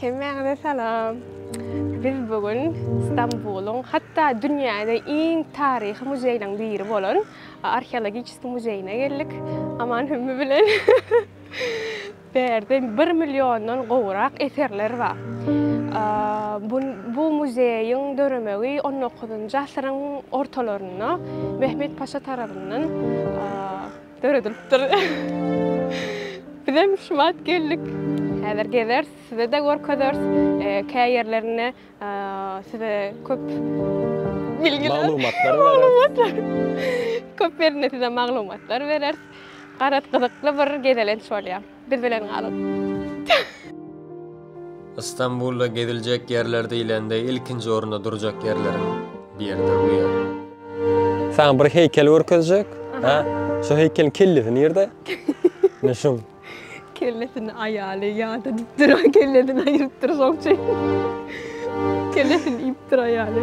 Hemmäňize salam. Biz bu gün Stambulyň, hatda dünýäde iň taryhy muzeýleriň biri bolan Arheologiçeskiý muzeýine geldik. Aman Hümmi bilen. Bu ýerde bir milliondan gowrak eserler bar. Bu muzeýiň döremegi on dokuzynjy asyryň ortalarynda Mehmet Paşa tarapyndan Döredilipdir. Bizem şumat geldik. Häzir gezeris, size-de görkezeris. Kä ýerlerinde size köp bilgiler, maglumatlar bereris. Köp ýerinde size maglumatlar bereris. Garaz, gyzykly bir gezelenç bolýar. Biz bilen galyň. Istanbulda geziljek ýerler diýlende ilkinji orunda durjak ýerleriň biri durýar. Saňa bir heýkel görkezjek. Hä? Şu heýkeliň kellesi nirde? Men şum. Kellesini aýaly ýada dipdir, kellesini aýrypdyr soň çeýe. Kellesini iýipdir aýaly.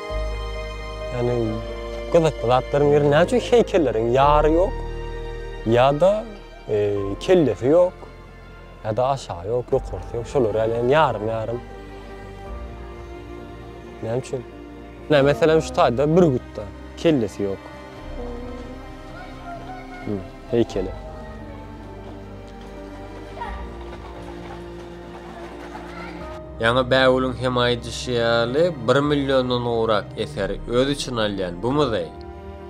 Ýani gyzykly zatlaryň biri näme üçin heýkelleriň ýary ýok? Ýa-da kellesi ýok? Ýa-da aşagy ýok, ýokarsy ýok. Şolar ýaly ýani ýarym-ýarym. Näme üçin? Näme meselem şu taýda bürgütde kellesi ýok. Heýkeli. Ýaňy Bägüliň hem aýdyşy ýaly, bir milliondan gowrak eseri öz içine alýan bu muzeý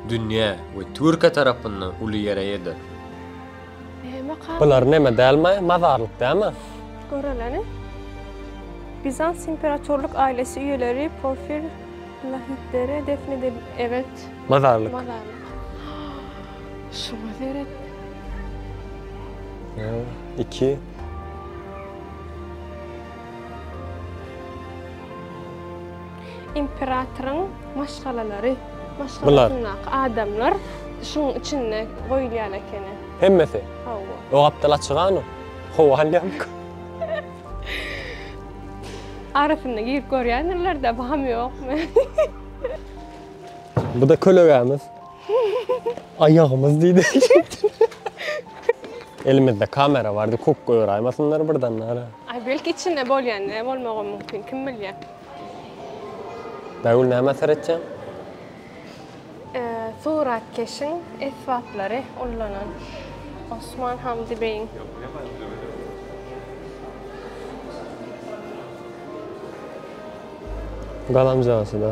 dünýä we Türkiýe tarapyndan uly ýere ýetir. Bular neme dälmi, mazarlyk dälmi? Göreliň. Bizans imperatorlyk ailesi üýeleri Porfir Lahidere defn edil. Evet. Mazarlyk. Mazarlyk. Şuňa seret. Ýa, iki. Imperatoryň maşgalalary, maşgalasyndaky adamlar şuň içinde goýulýan ekeni. Hemmesi? Hawa. O gapdal açyk hany? Howa alýarmyka? Arasyna girip görýändirler-de, baham ýokmy? Bu-da kölegämiz. Aýagymyz diýdi. Elimizde kamera bardy, kuk goýraýmasynlar birden nara. Aý belki içinde bolýan ne bolmagam mümkin, kim bilýär. Bägül näme seretýäň? Suratkeşiň esbaplary ullanan Osman Hamdy beýiň. Galamjasy da.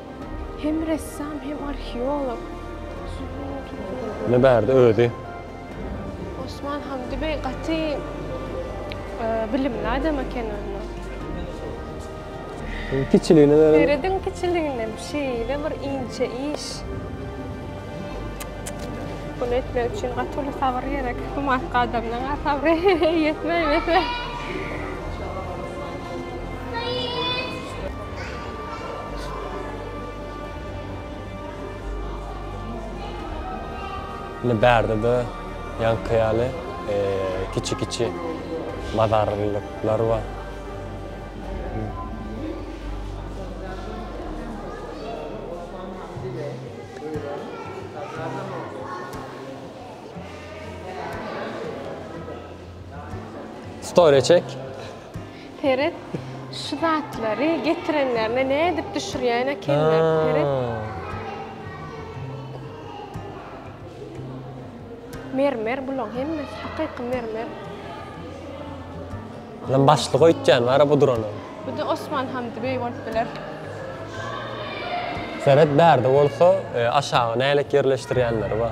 Hem ressam hem arheolog. Ne bärde özi. Osman Hamdi bey gaty bilimli adam eken onda. Kiçiligine de. Serediň kiçiliginem şeýle bir inçe iş. Bunu etmek üçin gaty uly sabyr gerek. Humatyk adamdan a sabry ýetmeýmese. Indi bärde-de ýaňky ýaly kiçi-kiçi bazarlyklar bar. Story çek. Seret şu zatlary getirenlerine nädip düşürýän ekenler seret. Mermer bulaň hemmesi hakyky mermer. Lan başlyk öýtýän bara bu durana. Bu da Osman Hamdi beý bolup biler. Seret bärde bolsa e, aşaga nälet ýerleşdirýänleri bar.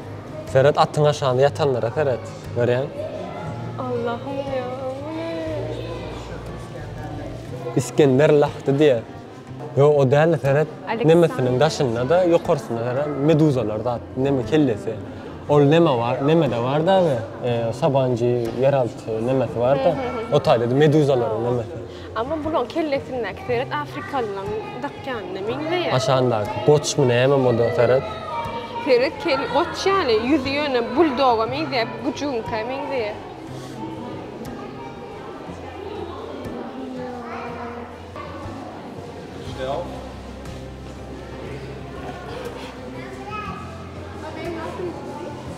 Seret atyň aşagynda ýatanlara seret. Görýäň? Allahym ýa bu ne? Isgender lahdy diýer. Ýok o däl seret nemesiniň daşynda-da ýokarsynda seret meduzalar zat neme kellesi. Ol neme bar nemede bar dagy sabanjy ýeralty nemesi bar-da o taýda meduzalaryň nemesi. Amma bulaň kellesindäki seret afrikalylaň dakýanyna meňzeýär. Aşandaky goçmy näme moda seret. Seret kel goç ýaly ýüzi ýöne buldoga meňzeýär bu güjüňkä meňzeýär.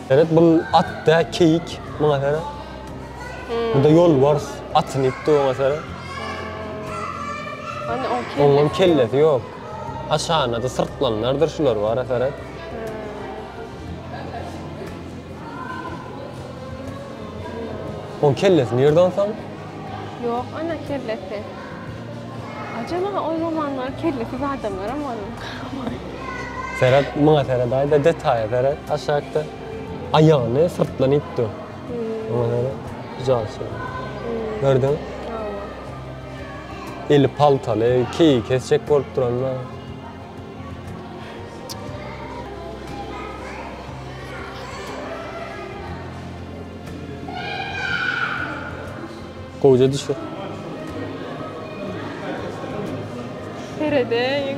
Seret bul at dä keýik muňa seret. Bunda yol var, atını ipti ona sara. Hani on kellesi Ondan yok. kellesi yok. Aşağına da sırtlanlardır şular var ya sara. On kellesi nerede onsan? Yok ana kellesi. Acaba o zamanlar kellesiz adamlar ama var. Serhat, bana Serhat ayda detaya Serhat aşağıda. Ayağını sırtlanıptı. Eli paltaly, keýi kesjek bolup duranda. Gowja düşür. Seredeýin.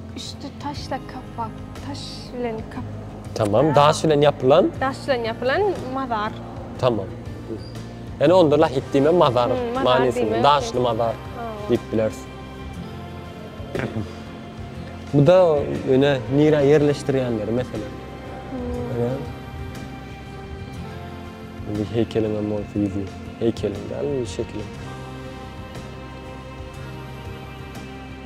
Üsti taşla kapak, taş bilen kap. Tamam, daş bilen ýapylan. Daş bilen ýapylan mazar. Tamam. Ýani onda lahit diýme mazar hmm, manysyny, daşly mazar diýip bileris. Bu da öne nira ýerleşdirýänleri mesela. Öne. Hmm. Bu heýkeliň hem ol fizi. Heýkeliň däl, şekil.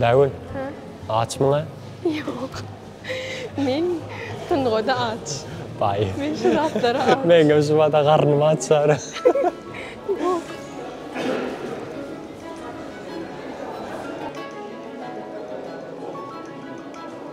Bägül. Ha? Aç mı? Yok. Men sungoda aç. Bay. Men şu zatlara aç. Men gel şu vada karnım aç sonra.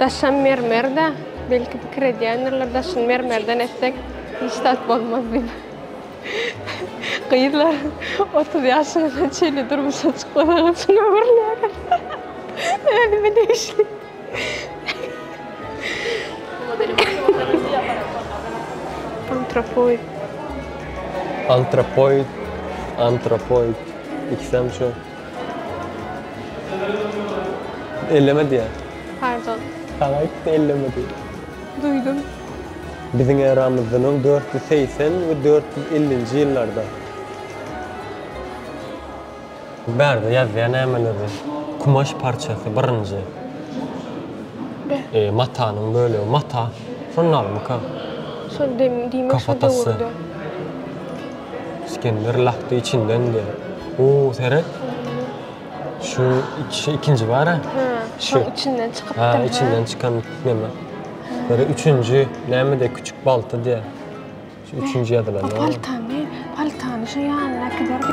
Daşam mermer-dä. Belki pikir edýändirler, daşyny mermerden etsek, hiç zat bolmaz diýip. Gyzlar otuz ýaşyňyza çenli durmuşa çykmasaňyz şuny öwrüläýeris. Özüme degişli. Antropoid. Antropoid. Antropoid. Ikisem şu. Elleme diýýär. Pardon. Saňa aýtdy elleme diýip. Duýdum. Biziň eramyzdan öň dört ýüz segsen we dört ýüz ellinji ýyllarda. Bärde ýazýar nämeleri. Kumaş parçasy, birinji. Be. Eee, matanyň bölegi. Mata. Şonun adymyka? Şol dem diýmek şol döwürde. Kafatasy. Isgender lahdy içinden diýýär. Huu, seret. Şu iki, ikinji bar-a. Hä, şoň içinden çykypdyr. Hä, içinden çykan neme. Ýa-da üçünji nämede küçük balta diýýär. Şu üçünji ýazylan. Bu paltany, paltany şu ýanyna äkiberdi.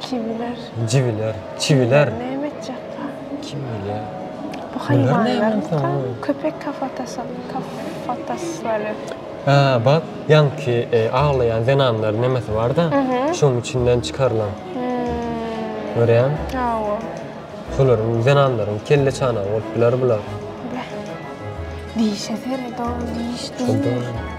Çiwiler. Ciwiler. Çiwiler. Näme etjekka? Kim bilýär? Bu haýwanlar köpek kafatasy, kafataslary. Ha, bak, ýaňky e, aglaýan zenanlar nemesi bar-da, şonuň içinden çykarylan. Görýäň? Hawa. Şolaryň zenanlaryň kelle çanagy bolup biler bular. Beh. Dişe seret, o diş diýmek.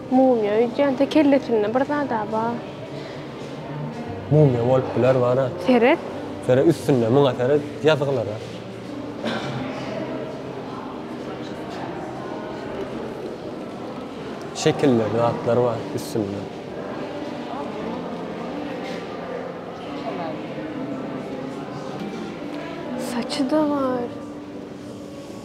Mumia öýdýänse kellesinde bir zada bar. Mumia bolup biler bana. Seret. Seret üstünde muňa seret ýazgylara. Şekiller zatlar bar üstünde. Saçy da bar.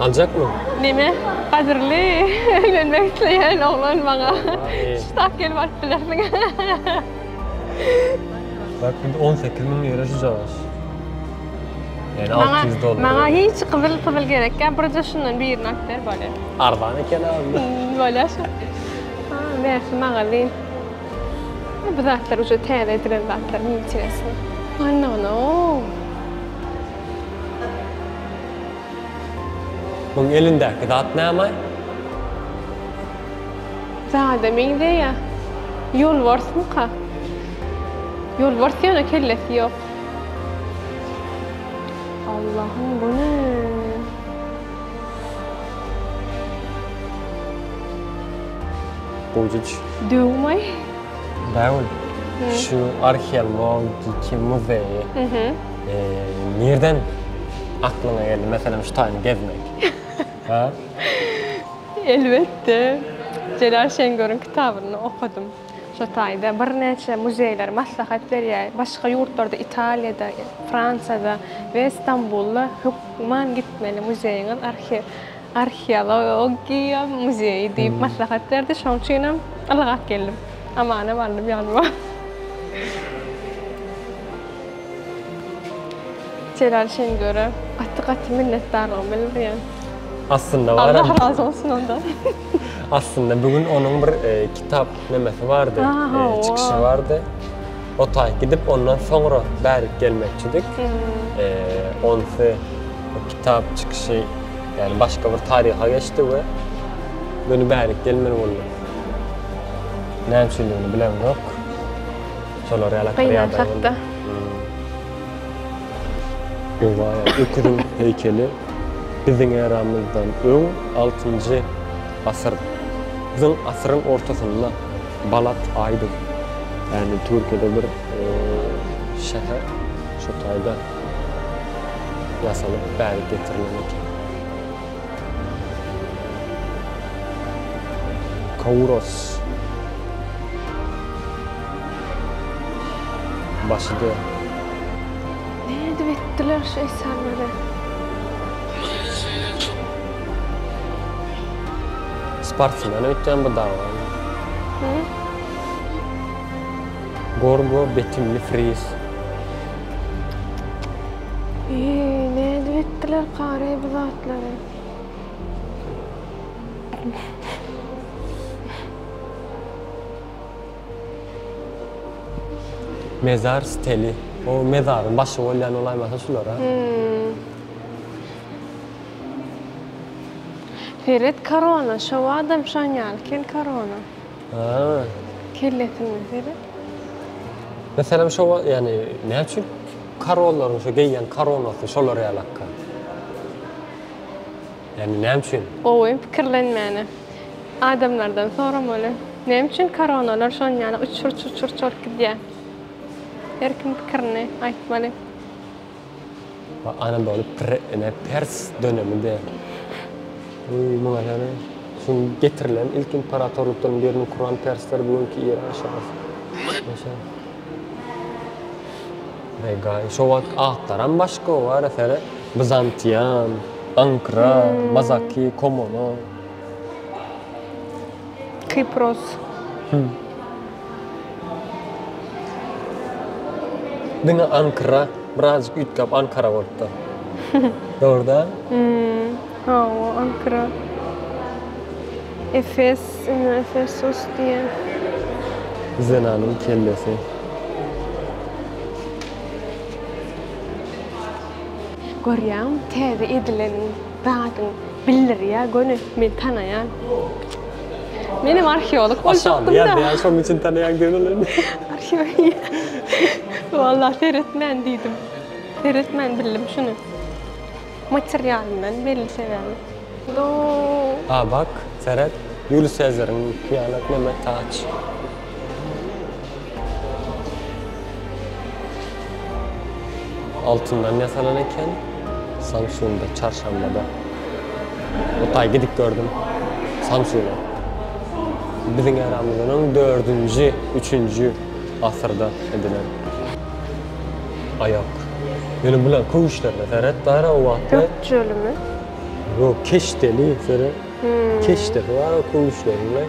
Aljakmy? Neme? Gadyrly öýlenmek isleýän oglan maňa şu tak gelip alyp bilersiň. Bak indi on sekiz müň ýere şu cagyş. Ýani alty ýüz dollar. Maňa maňa hiç gyzyl pyzyl gerekýa, birje şundan birini alyp ber bolýa. Arzan eken ha onda. Bolýa şu. Ha, bersin magazin. Bu zatlar uje täze edilen zatlar, neinteresno. Anna, no. Muň elindäki zat näme? Zada meňzeýä. Ýolbarsmyka? Ýolbars ýöne kellesi ýok. Allahym bu ne? Bujuc. Döwmaý. Däwül. Şu arheologiki muzeýi. Nirden aklyňa geldi meselem şu taýyny gezmek? Ha? Elbetde, Jelal Şengöriň kitabyny okadym. Şo taýda birnäçe muzeýler maslahat berýär. Başga ýurtlarda Italiýada, Fransiýada we Stambulda hökman gitmeli muzeýiňiz, arhiw. Arheologiýa muzeýi diýip maslahat berdi, şonuň üçinem ylgap geldim. Amanam aldym ýanyma. Jelal Şengöre gaty-gaty minnetdarlygymy bildirýän. Aslynda baram. Allah razy bolsun ondan. Aslynda bu gün onuň bir kitap. nemesi bardy, çykyşy bardy. O taý gidip, ondan soňra bärik gelmekçidik. Onsy o kitap çykyşy, ýagny başga bir taryha geçdi we göni bärik gelmeli bolduk. Näme üçindigini bilemzok. Şolar ýaly bir ýagdaý boldy. Gynançakda. Öküziň heýkeli biziň eramyzdan öň altynjy Asyr. Biziň asyryň ortasynda Balat Aýdyz. Ýagny Türkiýede bir şäher şu taýda ýasalyp bäri getirilen eken. Kawuros. Başydy. Nädip etdiler şu eserleri? Sportsmen öýtýän bu dagy. Gorgo betimli friz. Eý, nädip etdiler kareý bu zatlary. Mezar steli. O mezaryň başy bolýan bolaýmasa şular a. Seret korona şobadam şoň ýaly kel korona. Haa. Kellesine seret. Meselem şo wagt ýani näçün korollaryn şo geýýän koronasy şolar ýaly akga. Ýani näme üçin? Gowy pikirlenmäne. Adamlardan soramaly. Näme üçin koronalar şon ýaly uçur çuçur çort gidýä. Her kim pikirini aýtmaly. Ba Anadolu pire ine pers dönemi de Öý muňa hene şuň getirilen ilk imperatorlykdan birini kuran persler bu günki Iran şasy Başa Begay şo wagt atlaram başga wara sere Bizantian Ankra Mazaki Komono. Kypros. Diňe Ankra, birazjyk üýtgäp Ankara bolupdyr. Dogry da? Hawa, Ankra. Efes, indi Efesos diýen. Zenanyň kellesi. Görýäňmi, täze edilen. Zadyň bildirýä göni men tanaýan. Menem arheolog boljakdym da. Aşa, şonuň üçin tanaýan diýen ol indi. Arheolog. Walla seretmän diýdim. Seretmän bildim şuny. Materialyndan belli sebäbi. Ýoo. A bak, seret. Ýulius Sezariň, hyýanat, Mehmet Taç. Altyndan ýasalan eken. Samsunda, çarşambada. O taý gidip gördüm. Samsuna. Biziň eramyzdan öň 4-nji, 3-nji asyrda edilen. A ýok. Ýöne bular köwüşlerine seret bar o wagtky. Gök jölümi? Ýok, keşdeli seret. Keşdesi bar o köwüşleriň.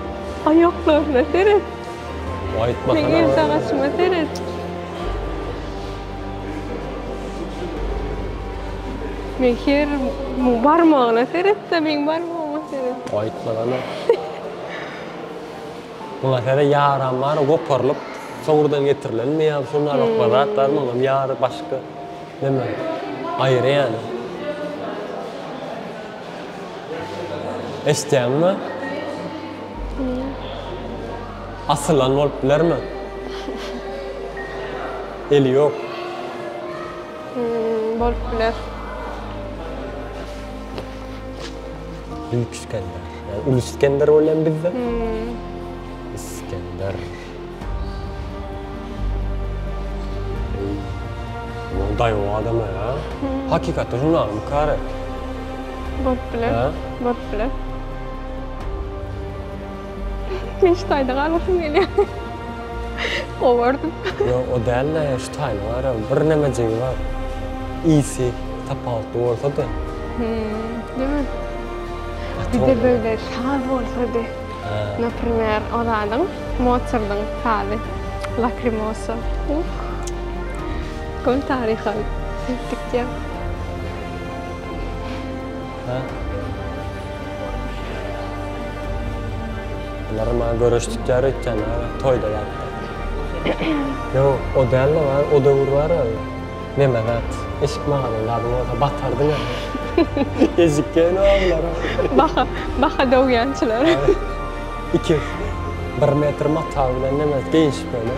Aýaklaryna seret. Aýtma Sen el sagaşyma seret. Men her barmagyna seret-de, meň barmagyma seret. Aýtma hana. Muňa seret ýaram bar, goparylyp, soňurdan getirilenmi ýa şunda lukma zat barmy, olam ýary başga. Näme? Aýry ýaly. Eşitýäňmi? Asylan bolup bilermi? Eli ýok. Bolup biler. Büyük Iskender. Yani Ulu Iskender bolýan bizde. Iskender. Daýaw adam a ya. Hakykatda žurnal mı kare? Bolup biler. Ha? Bolup biler. Men şu taýda galgasym gelýär. Gowardym. Yo, o däl-de, şu taýyny bar ya, bir nämejigi bar. Isi tapawutly bolsa-da. Hmm, diýmek. Bir de böyle saz bolsady. Naprimer, o zadyň Motsardyň sazy. Lakrimosa. Köň taryha sürüp gitýär. Bular maňa göreşdikýär öýtýän, toýda ýalydyr. Ýok, o däl-le, o döwür bar-a. Neme zat, eşik magazynyň zady bolsa batardyň hem. Ejikgen oglar. Baha, baha dogýançylar. Iki, bir metr mata bilen neme geýinşip öýle.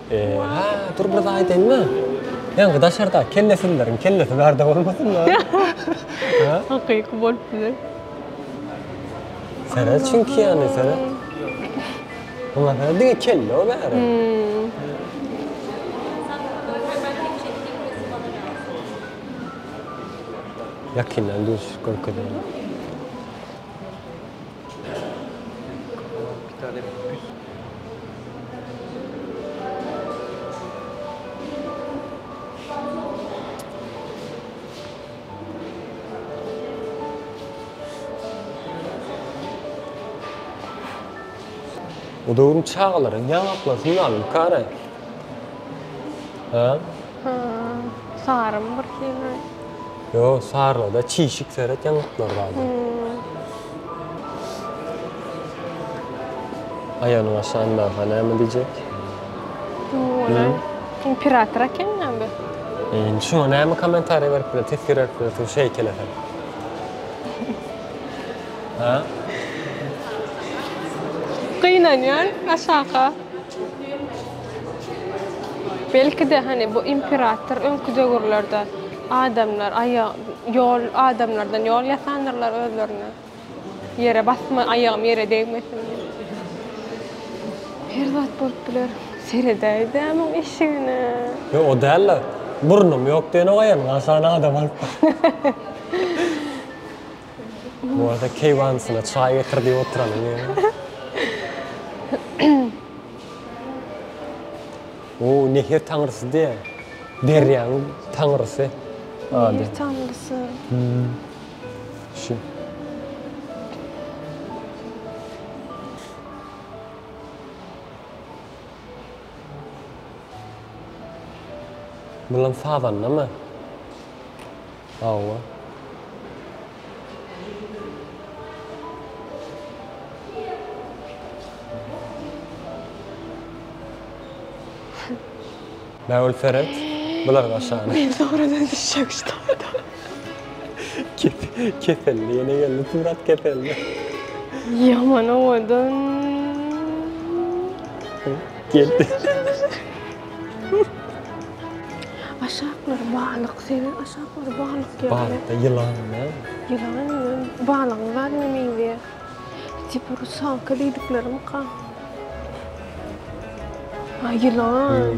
Eee-ha, dur bir zat aýdaýyn-da. Ýaňky daşardaky kellesizleriň kellesi bärde bolmasyn-da. Ha? Hakyky bolup biler. Seret çünki ýaly, seret. Muňa seret, diňe kelle-ow bäri. Ýakyndan düzüşip görkezeýin. Bu döwrüň çagalary ýaňaklaryny ýalyp garaý. Hä? Hä. Sarymy bir syýaý. Ýo sarylyda çişik seret ýaňaklar galdy. Aýagyny aşan barha näme diýjek. Imperator eken ýa bu. Indi şuňa näme kommentariýa berip biler teswir berip biler şu heýkele sen. Ha? Gynanýan aşaka. Belki-de, hany, bu imperator öňki döwürlerde adamlar aýag, ýol, adamlardan ýol ýasandyrlar özlerine. Ýere basma, aýagym ýere degmesin diýip. Her zat bolup biler. Seredäýdä muň eşigine. Ýok, o däl-de. Burnum ýok diýenok aýan, aşan adam alyp bar. Bu arada keýwansyna çaý getir diýip oturanyň ýaly. O, Nehir taňrysy diýýä. Derýaň taňrysy. Nehir taňrysy. Şu. Bulam sazandamy? Hawa. Bägül seret, bular gaşany. Men sowradan düşjek şu topda. Keselli ýene geldi surat keselli. Ýaman owadan. Geldi. Aşaklar balyk sebi aşaklar balyk ýaly. Balykda ýylan näme? Ýylan ýylan balygyň zadyna meňzeýär. Tipi rusalka diýdiklerimika. A ýylan.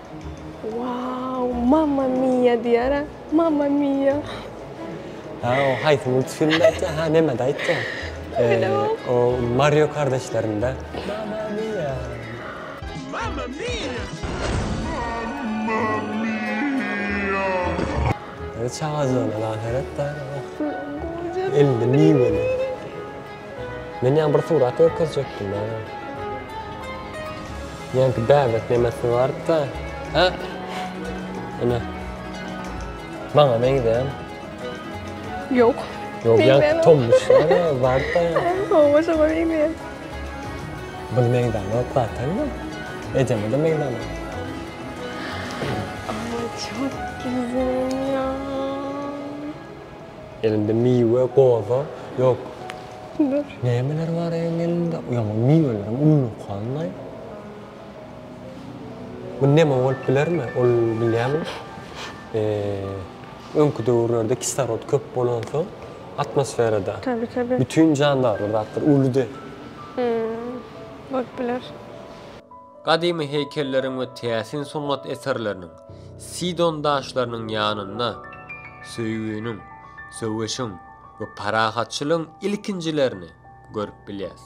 Waww mamma mia diýara mamma mia. Ha o haýsy multfilmde aýtýa ha nemede aýtýa. O mario kardeşlerinde mamma mia. Mamma mia. Çagajygyna da seret da. Elinde miweli. Men ýa bir surat görkezjekdim a. Ýanki bäbek nemesi barda. Ha? Ene. Maňa meňzeýän. Ýok. Ýok, ýanki tomuş barda. Owa, şoňa meňzeýän. Bul meňzeýän ýok zaten. Ejeme de meňzeýän. Aman, çok güzel ya. Elinde miwe, goza, ýok. Pullar. Nämeler bar eýeň elinde? Ýaňy miwelerim unulyp galdy-laý. Bu neme bolup bilermi? Ol bilýäňmi? Eee, öňki döwürlerde kislorod köp bolansoň atmosferada. Tabi, tabi. Bütin jandarlar zatlar ulydy. Hmm, bolup biler. Gadymy heýkelleriň we täsin sungat eserleriniň, Sidon daşlarynyň ýanynda söýginiň, söweşiň we parahatçylygyň ilkinjilerini görüp bilýäris.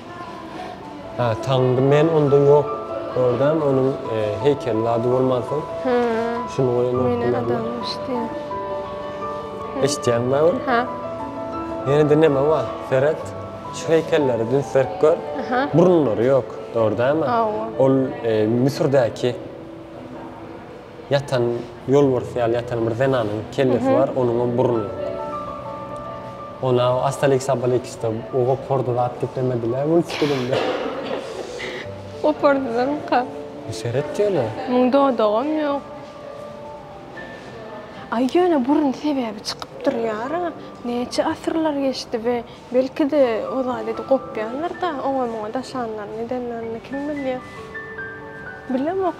Hä, taňňy men onda ýok gördämi, onuň heýkeliniň ady bolmansoň. Hä. Şuny goýan Meniň adamym eşitýä. Eşitýäňmi Aýgül? Hä. Ýene-de näme bar? Seret, şu heýkellere dünsdirip gör. Hä. Burunlary ýok, gördämi? Hawa. Ol Müsürdäki. Ýatan, ýolbars ýaly ýatan bir zenanyň kellesi bar, onuňam burny ýok. Ona Astaliks Abaliks-da o gopardy zat geplemediler multfilmde. Gopardylarmyka? Seret ýöne. Muň dodagam ýok. Aý ýöne burun sebäbi çykyp durýar-a. Näçe asyrlar geçdi we belki-de o zady edi gopýandyr-da, oňa-muňa daşanlaryny edenlerini kim bilýär. Bilemok.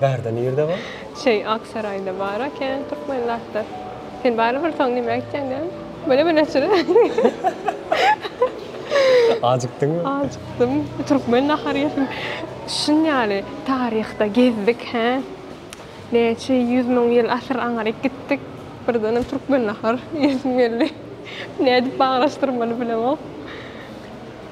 Bärde nirde bar? Şeý Aksaraýda bar ekän türkmen daktar. Sen barybir soň nime gitýäň däl? Bele bele çyra. Ajykdyňmy? Ajykdym. Türkmen nahary ýesim. Şun ýaly taryhda gezdik hä. Näçe ýüz müň ýyl asyr aňryk gitdik. Birdenem türkmen nahar iýesim geldi. Nädip baglanyşdyrmaly bilemok.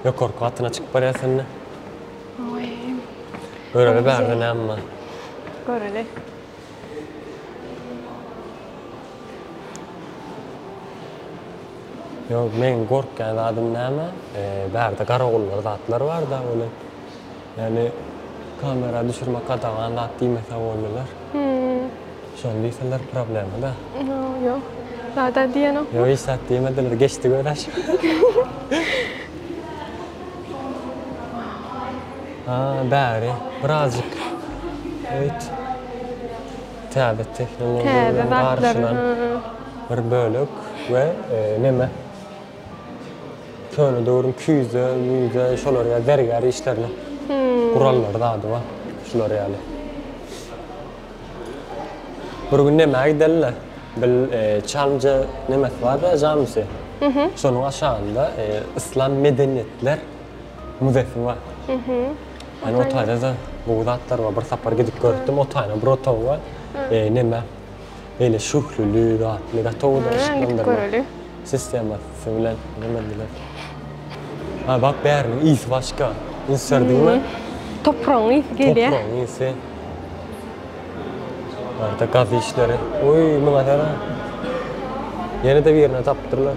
Ýokarky gatyna çykyp barýar sende. Oý. Göreli bärde näme bar? Göreli. Ýok, meň gorkýan zadym näme? Bärde garagullar zatlar bar-da ony. Ýani kamera düşürmek gadagan zat diýmese boldylar. Şony diýseler problema da. Ýok. Zada diýenok. Ýok hiç zat diýmediler geçdi göraç. Ha bäri birazjyk öýt. Täze tehnologiýalaryň garşylan bir bölek we neme. Köne döwrüň küýze, müýze şolar ýaly zergär işlerine gurallary zady bar. Şular ýaly. Bir gün nämä gideli-le? Bil Çamja nämesi bar-da jamisi. Şonuň aşagynda Yslam medeniýetler müzesi bar. Ýani o taýda-da gowy zatlar bar. Bir sapar gidip görüpdim. O taýyna bir otagy bar. Neme? Beýle şöhleli zatly gatowydyr yşyklandyrma sistemasy bilen gurlandylar. Ha bak bäriniň ysy başga. Üns berdiňmi? Topragyň ysy gelýär. Topragyň ysy. Barda gaz işleri. Oý muňa gara. Ýene-de birini tapdylar.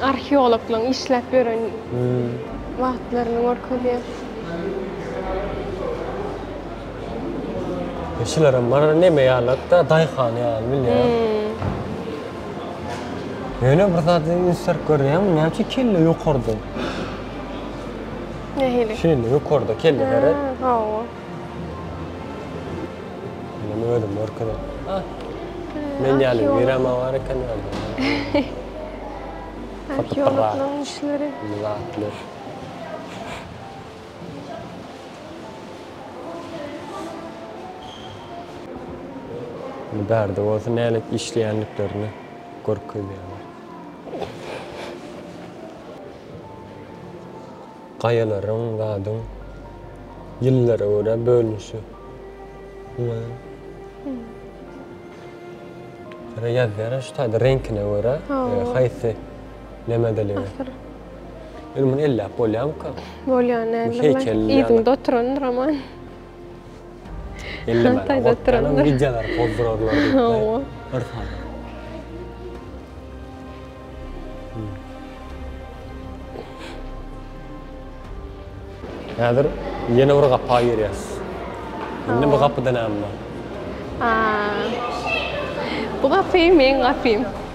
Arheologlaryň işläp ýören wagtlaryny görkezýär. Şularym bar neme ýalatda daýhan ýaly bilýän. Ýöne bir zat ünsüp görýän näme üçin kelle ýokarda. Nähili? Şeýle ýokarda kelle seret. Hawa. Meni özüm görkezip. Ah. Men yani Mirama var eken yerde. Arheologlaryň işleri. Zatlar. Bärde bolsa nälet işleýändiklerini görkezýärler. Gaýalaryň zadyň ýyllara görä bölünişi. Şeýle ýazýar-a şu taýda reňkine görä haýsy nämediligi. Indi muny elläp bolýamyka? Bolýar nädip? Heýkeldir ýaly. Yzynda oturandyr aman. Ellemäne, Taýda otdan oturanlar. öň gijäleri pozdurarlar diýip-de. Hawa. Bir sany. Häzir ýene bir gapa girýäs. Indi bu gapyda näme bar? Aa. Bu gapy meň gapym.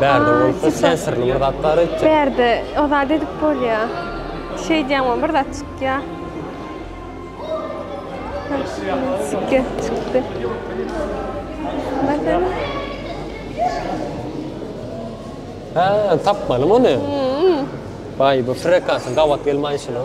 Bärde bolsa sen syrly bir zat bar etjek. Bärde o zat edip bolýa. Şey diýen o bir zat çykýa. Çykýa çykdy. Bakın. Ha, tapmanym onu. Vay bu frekansın gabat gelmay şunu.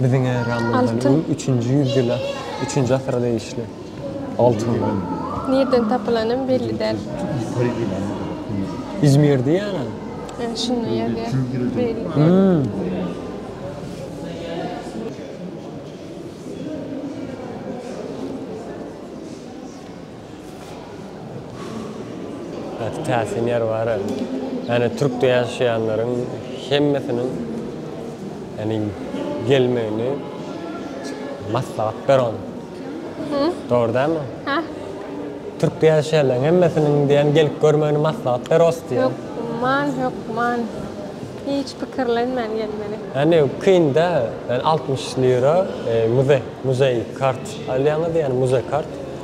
Biziň äramyzdan öň üçünji ýüzýyla, üçünji asyra degişli. Altyn. Nirden tapylanam belli däl. Izmir diýýärä. Hä, şunda ýazýar. Gaty täsin ýer bara. Ýani türkde ýaşaýanlaryň hemmesiniň ýani gelmegini maslahat beron. Dogry dälmi? Hä? Türkde ýaşaýanlaryň hemmesiniň diýen gelip görmegini maslahat beros diýen. Ýok, man ýok, man. Hiç pikirlenmän gelmeli. Ýani kyn-da, ýani altmyş lira muze, muzeý kart alýaňyz, ýani muze kart.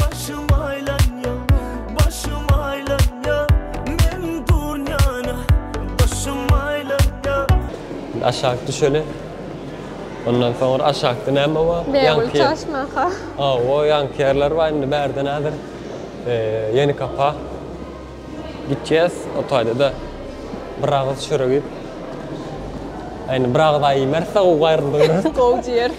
Başym aýlanýa, başym aýlanýa, men durnyana başym aýlanýa. Indi aşak düşeli. Ondan soňra aşakda näme bar? Bägül çaşmaka. Hawa, ýaňky ýerler bar. Indi bärde nädir? Ýenikapa gitjäs. O taýda-da bir agyz çörek iýip, indi bir agyz aý iýmeris-de, gowy gaýryldy göreriz. Gowy diýeris.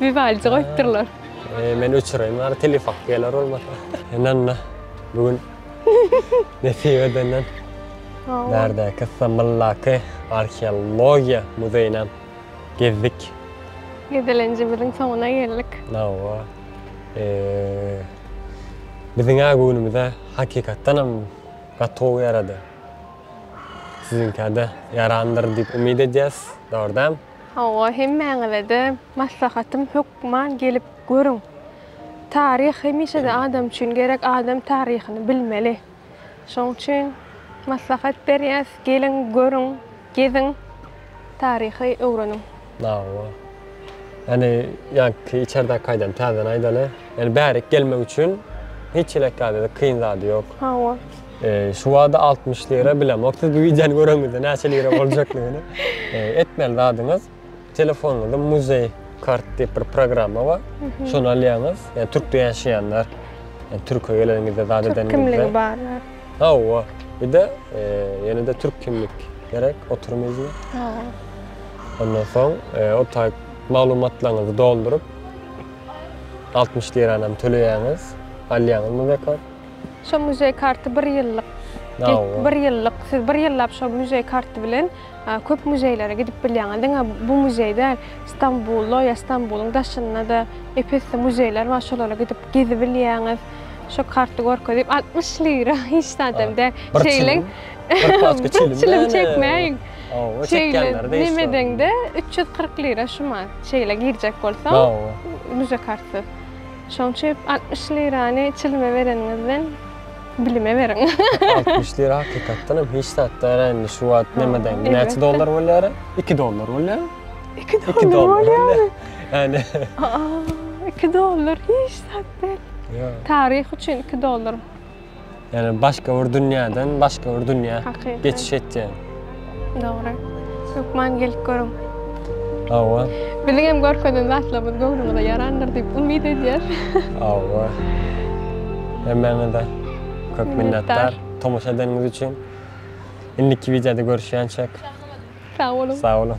Vivaldi goýupdyrlar. Ee, men öçüreýin bari telefak geler bolmasa. Enanna, bugün nesip edenden bärdäki Samyldaky arheologiýa muzeýinem gezdik. Gezelenjimiziň soňuna geldik. Hawa. Ee, biziň-ä göwnümize hakykatdanam gatow ýarady. Siziňkä-de ýarandyr diýip umyt edýäs, dogry dämi? Hawa, hemmäňize-de maslahatym, hökman gelip görüň. Taryh hemişe-de adam üçin gerek, adam taryhyny bilmeli. Şonuň üçin maslahat berýäs, geliň, görüň, geziň, taryhy öwreniň. Hawa. Ýani, ýaňky içerdäki kaýdany täzeden aýdaly. Ýani bärik gelmek üçin hiç hili ekgäde-de kyn zady ýok. Hawa. Şu wada 60 lira bilemok. Siz bu videony göreňizde näçe lira boljakdygyny. Etmeli zadyňyz telefonuňyzda muzeý kart diýip bir programma bar. Şony alýaňyz. Ýa Türkde ýaşaýanlar, ýa Türkiýe geleniňizde zat edenler. Türk kimligi bar. Hawa. Bir-de ýene-de türk kimlik gerek oturum izni. Hawa. Ondan soň o taýt maglumatlaryňyzy dolduryp 60 lirany hem töleýäňiz. Alýaňyz muzeý kart. Şo muzeý karty bir ýyllyk. Bir ýyllyk. Siz bir ýyllap şo muzeý karty bilen köp muzeýlere gidip bilýäňiz. Diňe bu muzeý däl, Stambulda ýa Stambuluň daşynda-da ep-esli muzeýler bar, şolara gidip gezibilýäňiz. Şo karty görkezip, altmyş lira hiç zadam däl. Şeýle bir çilim çekmäýin. Şeýle nimedeňde üç ýüz kyrk lira şu man. Şeýle girjek bolsaň, muzeý kartysyz. Şoň üçip altmyş lirany çilime bereniňizden bilime beriň. Altmyş lira hakykatdan hem hiç zat däl-ä indi şu wagt neme-de indi näçe dollar bolýara? Iki dollar bolýa. Iki dollar bolýary. Ýani. Aa, iki dollar hiç zat däl. Ýa. Taryh üçin iki dollar. Ýagny başga bir dünýäden başga bir dünýä geçiş etýän. Dogry. Hökman gelip görüň. Hawa. Biziň hem görkezen zatlarymyz göwnüňize ýarandyr diýip umyt edýäs. Hawa. Hemmäňize köp minnetdar tomaşa edeniňiz üçin. Indiki wideoda görüşýänçäk. Sag boluň. Sag boluň.